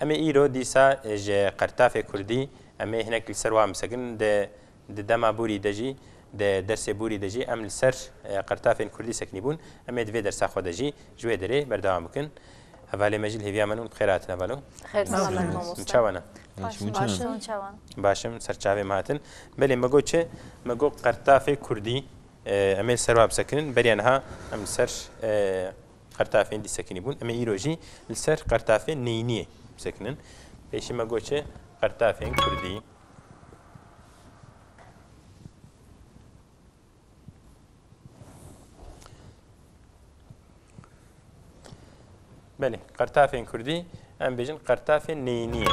Em ê îro dîsa ji qertafê kurdî em ê hinek li ser wan bisekin, di di dema borî de jî, di dersê borî de jî em li ser qertafên kurdî sekinîbûn, em ê di vê dersa xwe de jî ji wê derê berdewam bikin. Hevalê me jî li hêviya min û bi xêr hatin heval û. Xêr selamet mamoste. Çav ana? Başim, baş in. Çav ana? Başim, ser çavê me hatin. Belê me got çi? Me got qertafê kurdî em ê li ser wan bisekinin. Beriya niha em li ser Qertafên disekinî bûn. Em ê îro jî li ser qertafê neyîniyê bisekinin. Pêşî me got çi? Qertafên kurdî. Belê, qertafên kurdî em bêjin qertafên neyîniyê.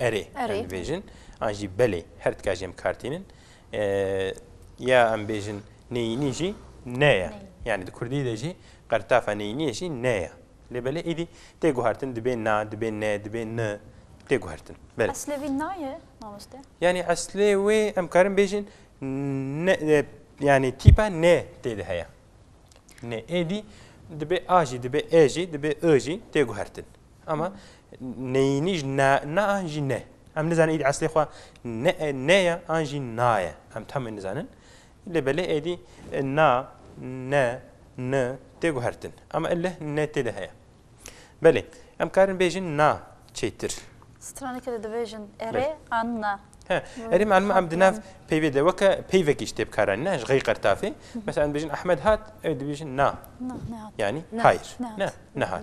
Erê. Erê. Em dibêjin. An jî belê. Her tika jî em kar tînin. Ya em bêjin neyînî jî ne ye. Yani di Kurdî de jî qertafa neyîniyê jî ne ye. Lê belê êdî tê guhertin dibê na, dibê ne, dibê ni tê guhertin. Belê. Eslê vî na ye mamoste? Yani eslê wê em karin bêjin yani tîpa ne tê de heye. Ne êdî dibê a jî dibê e jî dibê i jî tê guhertin. Ama neyînî jî na na an jî ne. Em nizanin îd eslê xwe ne ne ye an jî na ye. Em tam nizanin. Lê belê êdî na ne ni tê guhertin. Ama elle ne tê de heye. Belê em karin bêjin na çêtir. Straneke de dibêjin erê an na. He, erê malum em di nav peyvê de weke peyvekî ji têbkaran ne ji xey qertafê. Mesela em dibêjin Ahmed hat, ew dibêjin na. Na ne hat. Yani hayır. Ne ne hat.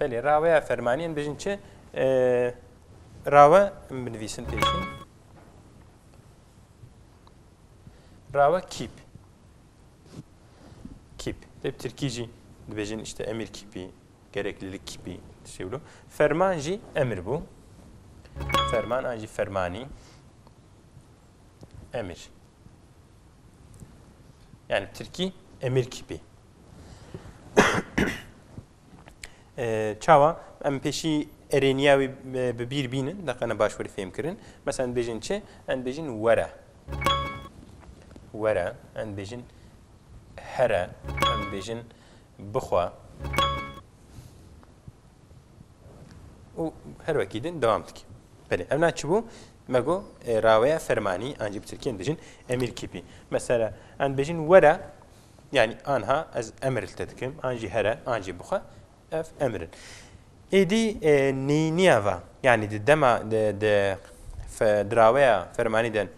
Belê raweya fermanî em bijin çi rawe em binivîsin pêşî. Rawe kîp. Kîp. Te bi tirkî jî dibêjin işte emir kîpî, gereklilik kîpî şey bû. Ferman jî emir bû. Ferman an jî fermanî. Emir. Yani Tirkî emir kîpî. Çawa em pêşî erêniya wî bi bîr bînin deqene başwirî fêm kirin. Mesela bêjin çi? Em bêjin were. Were, em bêjin here, em bêjin bixwe. û her wekî din devam dike. Belê, ev na çi bû? Me got, Ê raweya fermanî an jî bi tirkî em dibêjin emîr kîpî. Mesela em dibêjin were yanî anha ez emir li te dikim an jî here an jî bixwe ev emir in. Êdî nîniya va yanî di dema di raweya fermanî de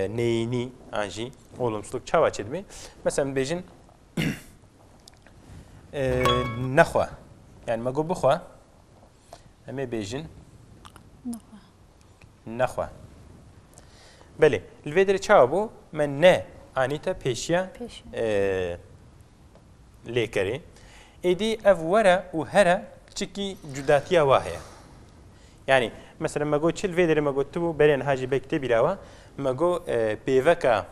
neyînî an jî olumsuzlik çawa çêdibê? Mesela em dibêjin nexwe yanî me got bixwe. Em ê bêjin. Nexwe. Nexwe. Belê. Li vê derê çawa bû me ne anîte pêşiya lêkerê. Êdî ev were û here çikî cudatiya wa heye. Yani mesela me got çil vê derê me got tu bû berên hajî bek tê bîrawa me got pêveka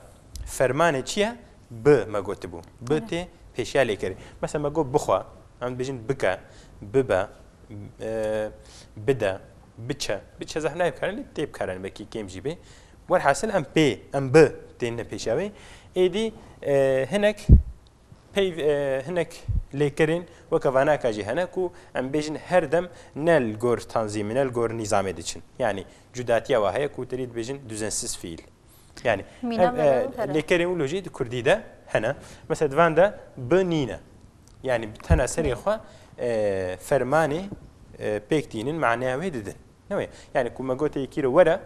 fermanê çiye Bi me gotibû. Bi tê pêşiya lêkerê. Mesela me got bixwe, em dibêjin bike, bibe, bide, biçe. Biçe zehf nayê bikarin lê tê bikarin belkî kêm jî bê. Welhasil em pê, em bi têne pêşiya wê. Êdî hinek peyv hinek lêkerên weke vanaka jî hene ku em bêjin her dem ne li gor tanzîmê ne li gor nîzamê diçin. Yanî cudatiya wa heye ku tedî dibêjin duzensiz fîîl. Yani lêkerê û lojî di Kurdî de hene. Mesela divan de bi nîne. Yani bi tena serê xwe fermanê pêk dînin maneya wê didin. Newê. Yani ku me gotê yekî re were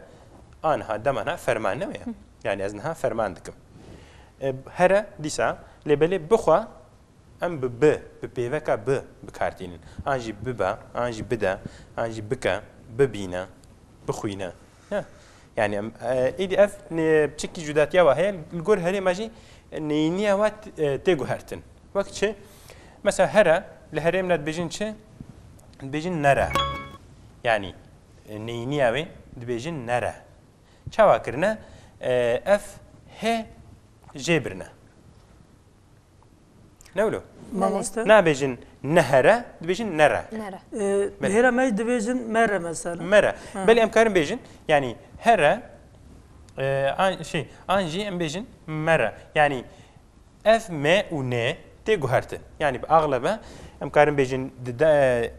anha demana ferman newê. Yani ez niha ferman dikim. Here dîsa lêbelê bixwe em bi bi bi pêveka bi bikartînin. An jî bibe, an jî bide, an jî bike, bibîne, bixwîne. Yanî êdî ev çikî cudatiya we heye li gor herê me jî neyîniya we tê guhertin. Wek çi? Mesela here li herêm re dibêjin çi? Dibêjin nere. Yanî neyîniya wê dibêjin nere. Çawa kirine? Ev he jê birine. Ne wilo? Mamoste? Nabêjin nehere, dibêjin nere. Nere. Hêra me dibêjin mere mesela. Mere. Belê em karin bêjin, yanî here an şey an jî em bêjin mere. Yanî ev me û ne tê guhertin. Yanî bi axlebe em karin bêjin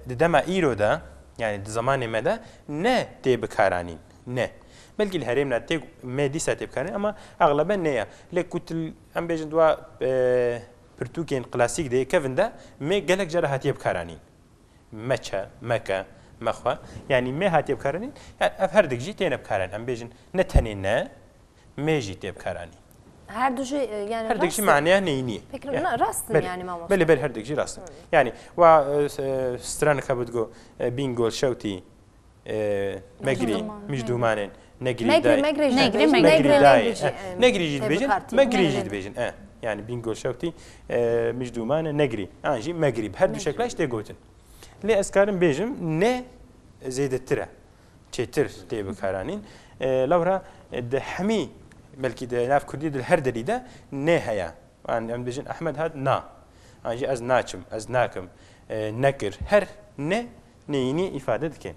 di dema îro de yanî di zemanê me de ne tê bikaranîn. Ne. Belkî li herêmna tê me dîsa tê bikaranîn ama axlebe ne ye. Lê ku tu Em bêjin di pirtûkên klasîk de yê kevin de me gelek cara hatiye bikaranîn. Meçe, meke, mexwe yanî me hatiye bikaranîn yan ev herdik jî têne bikaranîn. Em bêjin ne tenê ne me jî tê bikaranîn. Herdu jî yani Herdik jî maneya neynî. Peki rast in yani mamosta. Belê belê herdik jî rast in. Yani wa stranika bi digo bingol şewtî Megrî, Micdûmanên, Negrî, Megrî, Megrî, Megrî, Megrî, Negrî jî dibêjin, Megrî jî dibêjin. Yani Bingöl şewtî Micdûmane Negrî, an jî Megrî. Bi her du şekla jî tê gotin. Lê ez karim bêjim ne zêdetir e. Çêtir tê bikaranîn. Lewra di hemî belkî di nav Kurdî di her dilî de ne heye. An em dibêjin Ehmed hat na. An jî ez naçim, ez nakim, nekir. Her ne Neyînî îfade dike.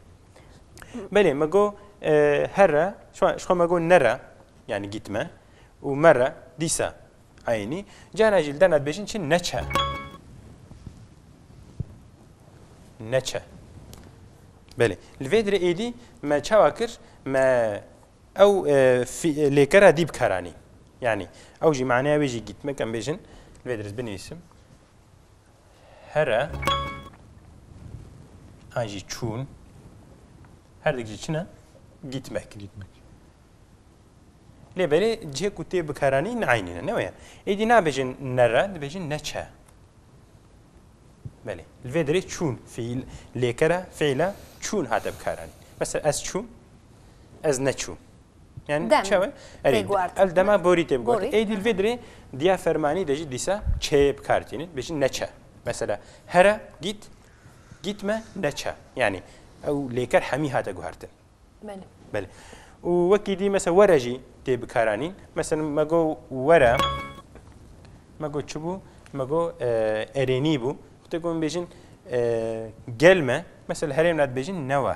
Belê me got here, ji xwe me got nere yanî gîtme û mere dîsa eynî. Cara jî li derna dibêjin çi neçe. Neçe. Belê. Li vê dirê êdî me çawa kir me ew lêkera dî bikaranî. Yanî ew jî maneya wê jî gîtmek em bêjin li vê dirê binivîsim. here an jî çûn herdik jî çi ne gîtmek gîtmek lê berê cihê ku tê bikaranî neynî ne neweye êdî nabêjin nere dibêjin neçe belê li vê derê çûn fiîl lêkere fiîle çûn hate bikaranî mesela ez çûm ez neçûm Yani Dem. çawe? Erê, Têguartin. ev dema borî tê biguartin. Borî, Ê dî li aha. vê dirê diya fermanî de jî dîsa çeyê bi kar tînin. Bêjin neçe. Mesela here gît, gîtme neçe. Yani ew lêker hemî hate guhertin. Belê. Belê. Û wekî dî mesela were jî tê bikaranîn. Mesela me got were, me got çi bû? Me got e, erênî bû. Tê ku min bêjin e, gelme, mesela herêmna dibêjin newe.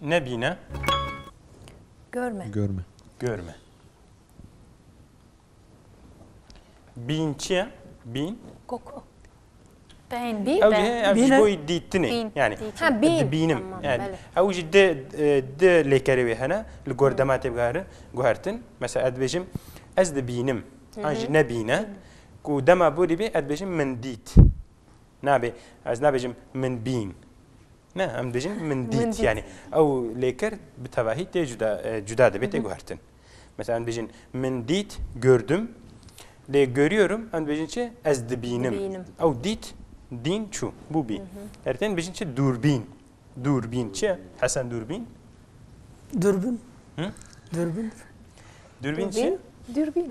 Nebîne. Görme. Görme. Görme. Bîn çi ye? Bîn? Koku. Bîn bî. Ew jî ev jî boyî dîtinê. Yani ha bîn. Dibînim. Yani ew jî di di lêkerê wê hene li gor dema tê bigarin guhertin. Mesela ez dibêjim ez dibînim. An jî nebîne. Ku dema borî bê ez dibêjim min dît. Nabê ez nabêjim min bîn. Ne em dijin min dît yani ew lêkir bi tevahî tê cuda cuda dibê tê guhertin. Mesela em dijin min dît gördüm lê görüyorum em dijin çi ez dibînim. Ew dît dîn çû bû bî. Ertên dijin çi dûrbîn. Dûrbîn çi Hesen dûrbîn? Dûrbîn. Dûrbîn. Dûrbîn çi? Dûrbîn.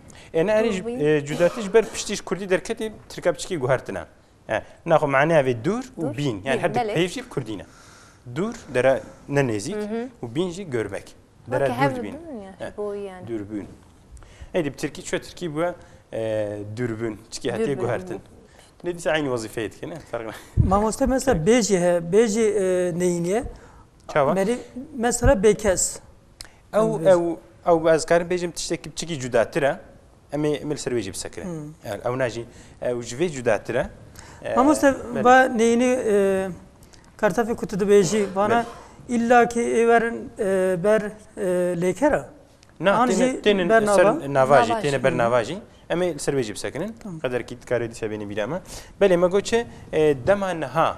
Ene erî cudetî ji ber piştî ji Kurdî derketî tirka biçikî guhertine. Na xwe maneya vê dûr û bîn yan her di pêv jî Kurdî ne. Dûr dere ne nêzîk û bîn jî görbek. Dere dûr bîn. Dûrbûn. Ey dib Tirkî çi Tirkî bûye dûrbûn çikî hetiye guhertin. Ne dîsa aynî wezîfeyê dikine. Mamoste mesela bêjî he bêjî neyîniye. Çawa? Mesela bêkes. Ew ew ew ez karim bêjim tiştekî biçikî cudatir e. Em ê em li ser wê jî bisekire. Ew ne jî ew ji vê cudatir e. Mamoste va neyînî kartafê ku tu dibêjî vana îlla kê ê werin ber lêkera. Na tênin ber navajî têne ber navajî. Em ê li ser wê jî bisekinin. Qederkî dikarê dîsa bênî bîra me. Belê me got çi dema niha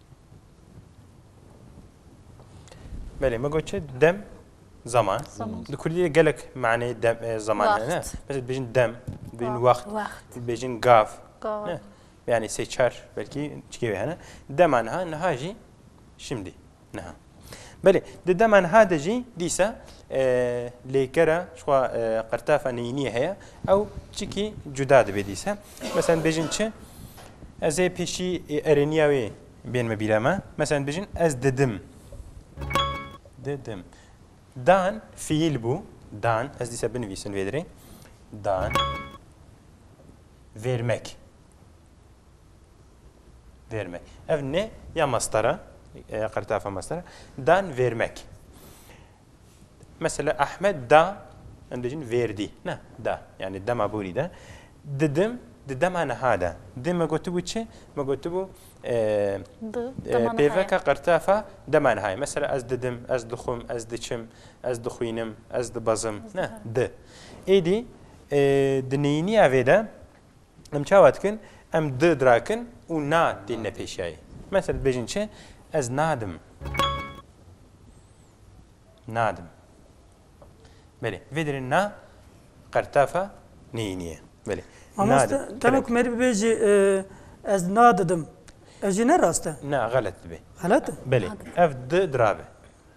Belê me got çi dem zaman. Di Kurdî de gelek maneyê dem e, zaman hene ne. Wext. Mesela dibêjin dem, dibêjin wext, Wext. dibêjin gav. Gav. Ne. Yani sê çar belkî çikê wê hene. Dema niha, niha jî şimdî. Niha. Belê di dema niha de jî dîsa lêkera xwa qirtafa neyîniyê heye ew çikî cuda dibê dîsa. Mesela bêjin çi ez ê pêşî erêniya wê bên me bîra me. Mesela bêjin ez didim. Didim. Dan fiil bû. Dan ez dîsa binivîsin vê dirê. Dan vermek. Vermek. Ev ne ya mastara, ya qertafa mastara. Dan vermek. Mesela Ahmet da, em dicin verdi. Ne, da. Yani dema buri da. Didim, di dema niha da. Di me gotibu çi? Me gotibu pêveka qertafa dema niha. Mesela ez didim, ez dixwim, ez diçim, ez dixwînim, ez dibezim. Ne, di. Êdî di neyîniya vê de Em çawa dikin? Em di dirakin û na tên nepêşiyayê. Mesela dibêjin çi? Ez nadim. Nadim. Belê. Vê derê na qertafa neyînî ye. Belê. Mamoste tenê ku merî bibêjî ez nadidim. Ev jî ne rast e. Na xelet dibê. Xelet e? Belê. Ev di dirabe.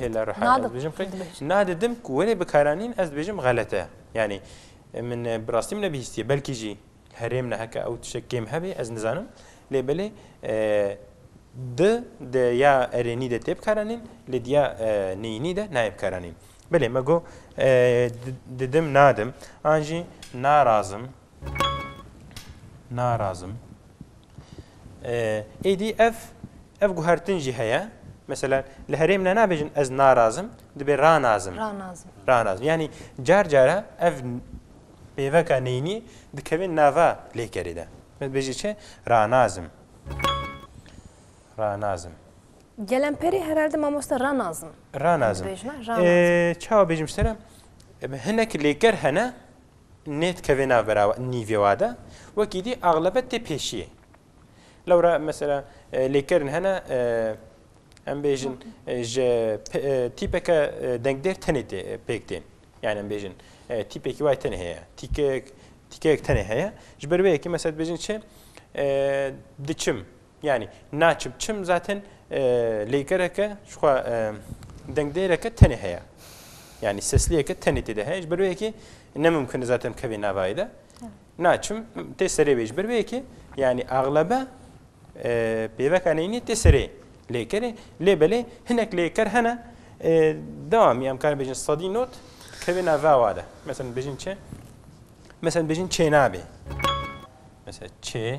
Hêla reha ez bijim qey. Na dedim ku wê bikaranîn ez bijim xelete. Yani min bi rastî min nebihîstiye belkî jî herêm ne heke ew tişek kêm hebe ez nizanim. Lê belê di de ya erênî de tê bikaranîn lê diya neyînî de nayê bikaranîn. Belê me got didim nadim an jî narazim narazim. Êdî ev ev guhertin jî heye. Mesela li herêm ne nabêjin ez narazim, dibê ranazim. Ranazim. Ranazim. Yanî car cara ev pêveka neynî dikevin nava lêkerê de. Min dibêjî çi? Ranazim. Ranazim. Gelemperê herhalde mamoste ranazim. Ranazim. Çawa bêjim sere? Hinek lêker hene nedikeve nav bera nîvê wa de wekî dî axlebet tê pêşiyê. Lewra mesela lêkerin hene em bêjin ji tîpeke dengdêr tenê tê pêk tên. Yani em bêjin tîpekî wayê tenê heye. Tîkeyek tîkeyek tenê heye. Ji ber wê yekê mesela dibêjin çi diçim Yanî naçim çim zaten lêgereke xwe dengdêreke tenê heye. Yani sesliyeke tenê tê de heye. Ji ber wê ki ne mumkin zaten kevê navayê de. Naçim tê serê wê ji ber wê ki yani aglebe pêveka neynî tê serê lêkerê lê belê hinek lêker hene dewamî em karin bêjin sedî not kevê nava wa de. Mesela bêjin çi? Mesela bêjin çênabê. Mesela çê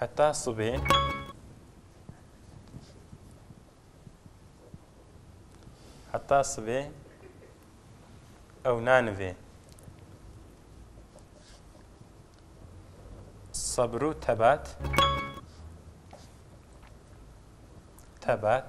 Heta sibê. Heta sibê ew nanivê. Sabir û tebat. Tebat.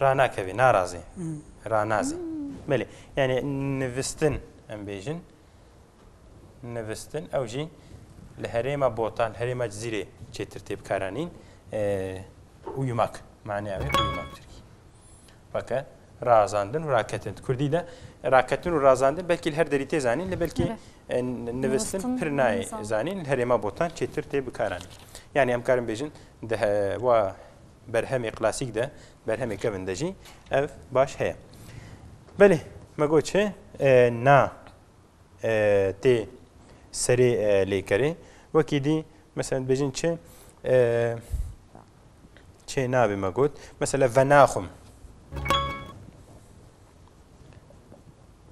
Ranakevî, narazî, ranazî. Belê, yanî nivistin em bêjin. Nivistin ew jî li herêma Botan, herêma Cizîrê çêtir tê bikaranîn. Uyumak, maneya wê uyumak Tirkî. Weke razandin û raketin. Kurdî de raketin û razandin belkî li her derî tê zanîn li belkî nivistin pir nayê zanîn li herêma Botan çêtir tê bikaranîn. Yani em karin bêjin di wa berhemê klasîk de, berhemê kevn de jî ev baş heye. Belê me got çi? Na tê serê lêkerê. Wekî dî mesela dibêjin çi? Çê nabê me got. Mesela venaxum.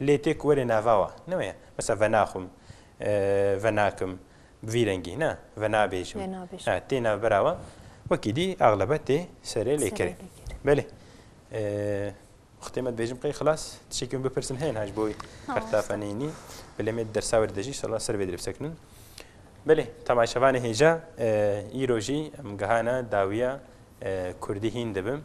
Lê tê ku were nava wa. Ne weye. Mesela venaxwim, venakim, bi vî rengî ne. Venabêjim. Tê navbera wa. Wekî dî exlebe tê serê lêkerê. Belê. Xitê me dibêjim qey xilas. Tişekî min bipirsin heye niha ji bo wî qertafa neyînî. Belê me di dersa were de jî inşallah ser vê dê li bisekinin. Belê, temaşevanê hêja, îro jî em gihana dawiya kurdî hîn dibim.